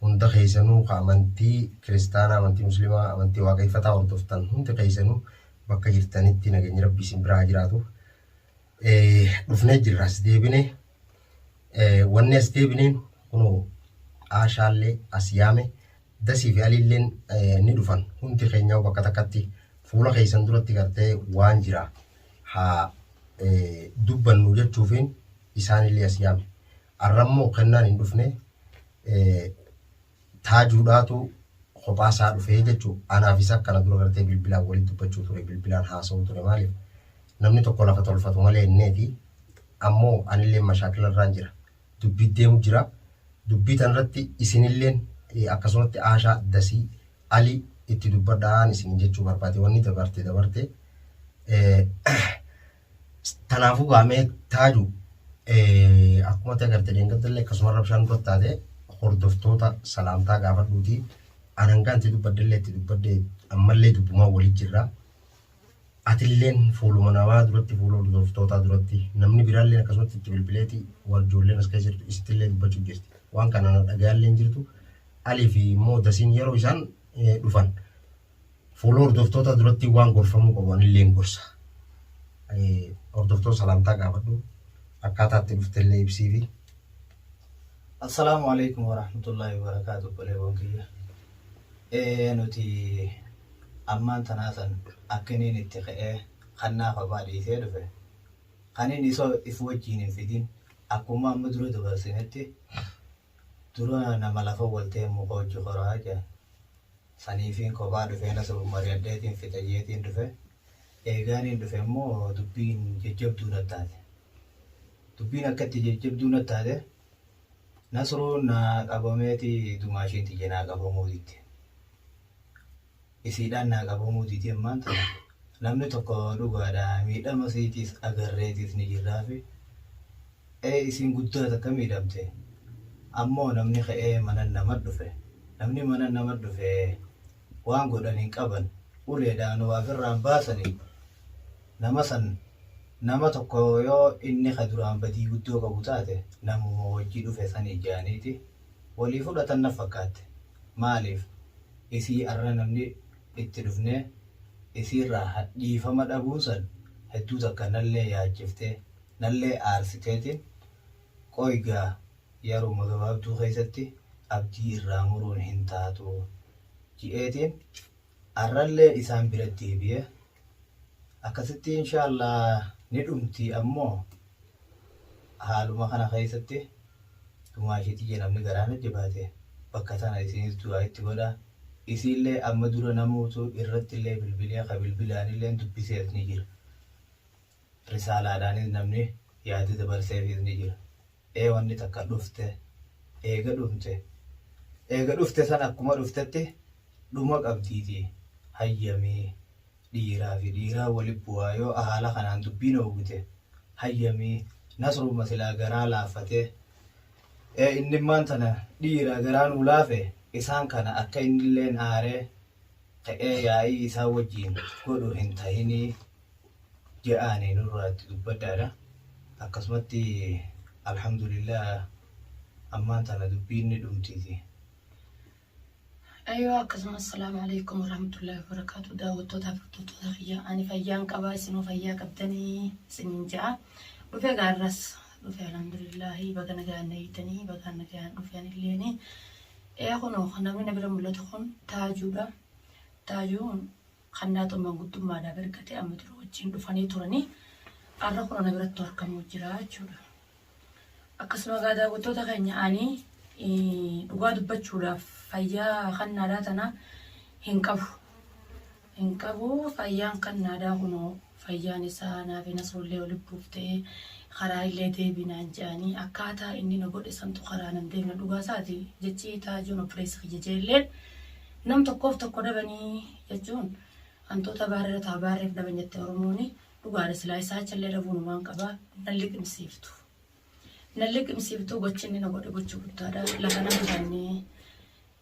hunda keessanuu ka amantii kiristaanaa, amantii muslimaa, amantii waaqeffataa hordoftan hundi keessanuu bakka jirtanitti nageenyi rabbii isin biraa jiraatu. Dhufnee jirra as deebine. Wanni as deebineen kunoo aashaallee as yaame dasii fi aliilleen ni dhufan hundi keenyaa bakka takkatti fuula keessan duratti gartee waan jira haa dubbannu jechuufiin isaanillee as yaame. Arrammoo kennaan hin dhufne Taajuudhaatu kophaa isaa dhufee jechuun anaaf isa kana dura gartee bilbilaan waliin dubbachuu ture bilbilaan haasa'uu ture maaliif namni tokko lafa tolfatu malee inneeti ammoo anillee mashaakila irraan jira dubbii deemu jira dubbii tanirratti isinilleen akkasumatti aashaa dasii ali itti dubbadhaan isin jechuu barbaade wanni dabarte dabarte Kanaafuu gaa mee taaju akkuma ta'e garte deengaddalle akkasuma rabshaan dura taate hordoftoota salaamtaa gaafadhuuti anangaan itti dubbaddellee itti dubbadde ammallee dubbumaa walitti jirra. Atilleen fuuluma namaa duratti fuula hordoftootaa duratti namni biraallee akkasumatti itti bilbileeti warjoolleen as keessa jirtu isittillee dubbachuu jirti. Waan kana dhagayaallee hin jirtu. Alii fi immoo dasiin yeroo isaan dhufan Fuula hordoftootaa duratti waan gorfamuu qabu anillee hin gorsa. Hordoftoota salaamtaa gaafadhu. Akkaataa itti dhufte illee ibsiifi. Assalaamu alaikum warahmatullahi wabarakaatu obboleewwan kiyya. Ee nuti ammaan tanaa san akkiniin itti ka'ee kan naaf abaa dhiisee dhufe kaniin isoo if wajjiin hin fidin akkuma amma dura dabarsinetti Dura nama lafa wal ta'een muka hojji koraa jedhan. Saniifiin kophaa dhufee nasuuf mari'adheetiin fixa jeetiin dhufe. Eegaaniin dhufe immoo dubbiin jajjabduu nattaate. Dubbiin akka itti jajjabduu nattaate Nasruun naa qabameeti dumaashiin tiyya naa qabamuu didde. isiidhaan naa qabamuu didee ammaan tana namni tokko dhugaadha miidhama isiitiis agarreetiis ni jirraafi ee isiin guddaa takka miidhamte ammoo namni ka'ee manan nama dhufe namni manan nama dhufe waan godhan hin qaban uleedhaan waa firraan baasanii nama san nama tokko yoo inni ka duraan badii guddoo qabu taate namuma wajji dhufe sanii jaaniiti walii fudhatan na fakkaatte. maalif isii arra namni itti dhufnee isiirraa ha dhiifama dhabuun san hedduu takka nallee yaachiftee nallee aarsiteetin qoy gaa yaruma gabaabduu keessatti abdii irraa muruun hin taatu ji'eetiin Arrallee isaan bira deebi'e. Akkasitti inshaa Allaah ni dhumti ammoo haaluma kana keessatti dhumaa ishii tiyya namni garaa na jabaate bakka tana isiinis du'aa itti godha. Isiillee amma dura namuutu irrattillee bilbilee ka bilbilaanillee dubbisees ni jira. Risaalaadhaanis namni yaada dabarseefiis ni jira. Ee wanni takka dhufte, eega dhumte, eega dhufte san akkuma dhuftetti dhuma qabdiitii hayyamii dhiiraa fi dhiiraa wali bu'aa yoo ahaala kanaan dubbiin oogute hayyamii Nasrumma silaa garaa laaffatee ee inni immaan tana dhiira garaa nuu laafe isaan kana akka innilleen aaree ka'ee yaa'ii isaan wajjiin godhu hin tahinii ja'aani nurraa itti dubbadhaadha. Akkasumatti alhamdulillah ammaan tana dubbiin ni dhumtiiti. Ayyoo akkasuma assalaamu alaikum warahmatullahi wabarakatuh daawwattoota furtuttoota kiyya ani fayyaan qabaa isinoo fayyaa qabdanii isiniin ja'a dhufe gaarras dhufe alhamdulillahi baga nagaan eeytanii bagaan nagaan dhufe anilleeni ee kunoo namni na bira mul'atu kun taajuudha taajuu kannaatoo maangudduummaadhaaf ergate amma dura wajjiin dhufanii turanii arra kun ana birattu arkamuu jiraa jechuudha. Akkasuma egaa daawwattoota keenya ani dhugaa dubbachuudhaaf fayyaa kannaadhaa tanaa hin qabu. Hin qabu fayyaan kannaadhaa kunoo fayyaan isaa naaf hin hasuullee ol buuftee karaa illee deebi naan je'anii akkaataa inni na godhe santu karaa nan deemna dhugaa isaati jechi taajuun oppireessi kiyya jeellee nam tokkoof tokko dhabanii jechuun hantuuta baarreera taa baarreef dhaban jette oromooni dhugaadha silaa isaa challee dhabuun waan qabaa nan liqimsiiftu nan liqimsiiftu gochinni na godhe gochi guddaadha lafa nan bannee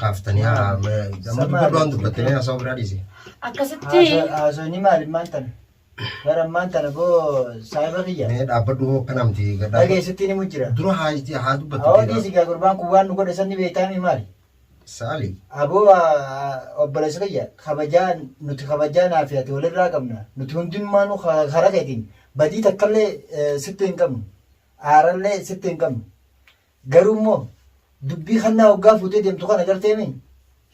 Kaaftanii haa amma dubbii waan dubbattanii haasa'u biraa dhiise. Akkasitti Haasawni maali maal tana? Bara maal tana boo saayiba kiyya? Mee dhaabbadhu hoo akka namti gaddaa. Dhageessitti ni mujjira. Dura haa itti haa Hawaa dubbattu. dhiisi gaa gurbaan kun waan nu godhe sanni beektaami maali? Saali. Aboo obboleessa kiyya kabajaa nuti kabajaa naa fi ati walirraa qabna. Nuti hundummaanuu karaa keetiin badii takkallee eh, sitti hin qabnu. aarallee sitti hin qabnu. Garuu immoo dubbii kannaa hoggaa fuutee deemtu kana garteemi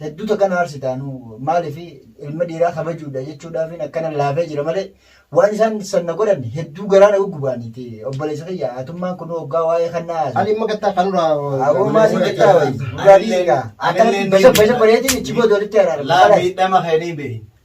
hedduu takka na aarsitaa nu maaliif ilma dhiiraa kabajuudha jechuudhaafin akkana laafee jira malee waan isaan sanna godhan hedduu garaa na guggubaaniiti obboleessa kiyya atummaan kun hoggaa waa'ee kannaa haasu. Ani immoo gattaa kan irraa. Awwoomaa si gattaa wayi. Dhugaa dhiigaa. Akkanatti basa basa bareetiin ichi booda walitti araarama. Laa miidhama keenii beeyi.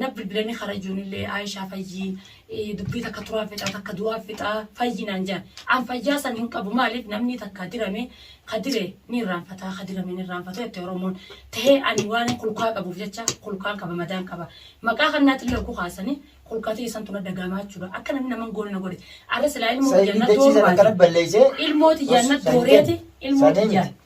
Naf bilbilanii kara ijoonillee Aishaa fayyii dubbii takka turaan fixaa takka du'aan fixaa fayyii naan jaan. An fayyaa san hin qabu maaliif namnii takka dirame ka dire ni irraanfataa ka dirame ni irraanfatu jette Oromoon. Tahee ani waanin kulkaa qabuuf jecha kulkaan qaba madaan qaba. Maqaa kannaatillee hogguu kaasanii kulka tiyya santu na dhaga'amaa jechuudha. Akka namni nama hin goone na godhe. Arra silaa ilmoo Said tiyyaan na dachii dooru sana baate. akkana balleessee Ilmoo tiyyaan na Said dooreeti ilmoo Said tiyyaan.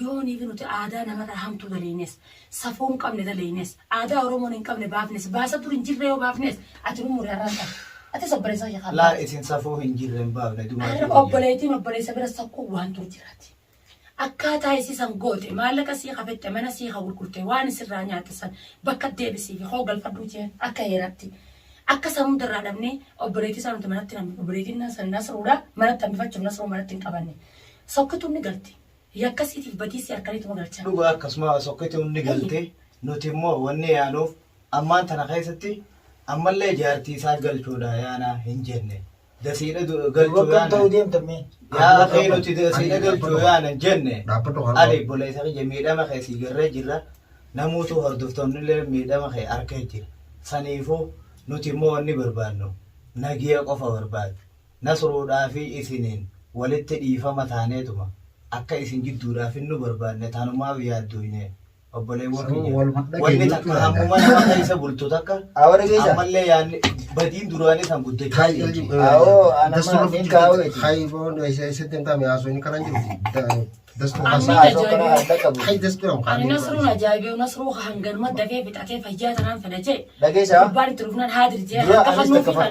Yoonii fi nuti aadaa namarraa hamtuu daleynes, safuu hin qabne daleynes, aadaa Oromoon hin qabne baafnes, baasaa dur hin jirree yoo baafnes, ati nu muri arraan tana. Atis obboleessaa kee kaa Laal baafte. isin safuu hin jirre hin baafne dumaa Arra jireenyaa. obboleeytiin obboleessa bira sakkuu waan dur jiraati. Akkaataa isii san goote, maallaqa sii kafette, mana sii ka gurgurte, waan isirraa nyaatte san bakka deebisiifi koo galfadhuu jeen akka heeratti. Akka san hunda irraa dhabnee obboleeytii isaa nuti manatti hin hambifne. Obboleeytiin naa san nasruudha. Manatti hambifachuuf nasruu manatti hin qabanne. Sokkituun ni galti. Yakka siitiif badii si harkanituma galcha. Dhugaa akkasuma sokkituun ni galte, nuti immoo wanni yaanuuf ammaan tana keessatti ammallee jaartii isaa galchuudha yaana hin jenne. Dasiidha du- galchuu Akkam yaana. ta'uu deemtan mee? Yaa akhi nuti dasiidha galchuu yaana hin jenne. Dhaabbadhu haa Ali ta'u. boleessa kiyya miidhama kee sii garree jirra. Namuutu hordoftoonni illee miidhama kee arkee jira. Saniifuu nuti immoo wanni barbaannu nagiya qofa barbaadu. Nasruudhaa fi isiniin walitti dhiifama taaneetuma akka isin jidduudhaa finnu barbaanne tanumaaf yaaddooyne obboleewwan kiyya. Wanni takka hammuma nama keessa bultu takka ammallee yaanni badiin duraanii san guddachaa jirti. Ani Nasruun ajaa'ibeewu Nasruu hanganuma dafee fixatee fayyaa tanaan fedha jee gubbaan itti dhufnaan haadir jee harka fannoo fi kana.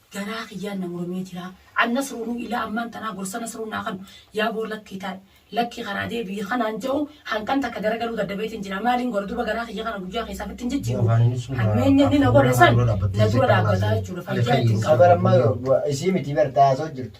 Garaa kiyyaan na muramee jiraa. An Nasruunuu ilaa ammaan tanaa gorsa Nasruun naa kanu yaa boor lakkii taa'i, lakkii karaa deebi'i ka naan ja'u hankan takka garagaluu dadhabeetiin jira. Maaliin godha duuba garaa kiyya kana guyyaa keessaa ofitti hin jijjiiru. Hammeenyi inni na godhe san na dura dhaabbataa jechuudha. Fayyaa itti hin qabu. Sabar ammaa isii miti bar ta haasoo jirtu.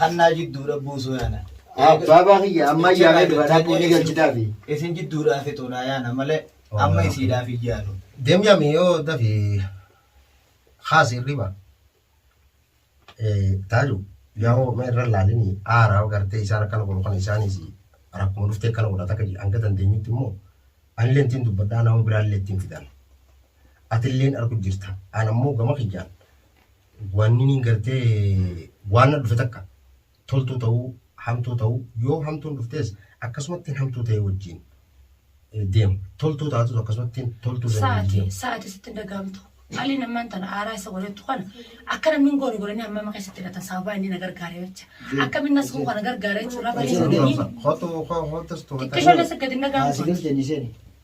Hannaa jidduudha buusuu yaana. Baabaa kiyya amma ayyaana dubaraa buunee galchitaa fi. Isin jidduudhaa fixuudhaa yaana malee amma isiidhaaf hin yaadu. Dem yami yo dafi khas irriba eh taju yawo me irra laalini aara garte isaan akkana godhu kana isaanis rakkuma dhufte akkana godhata kaji hanga dandeenyutti immoo anillee ittiin dubbadhaa nama biraallee ittiin fidan atilleen argu jirta an ammoo gama kiyyaan Waannin gartee waan na dhufe takka toltuu ta'uu hamtuu ta'uu yoo hamtuun dhuftees akkasumattiin hamtuu ta'ee wajjiin deema. Toltuu taatus akkasumattiin toltuu ta'ee wajjiin Sa'ati, deema. sa'ati sitti hin dhaga'amtu. Haalli nammaan tana aaraa isa godhattu kana akka namni hin goone godhanii hammama keessatti hidhatan sababaa inni na gargaare jecha. Akkamiin nas koo kana gargaare jechuun lafa Hojii keessa hojii deemee. Hotu hotu hotu hotu. Xiqqishoollee si gadi hin dhaga'amtu. Saasigil jenni seeni.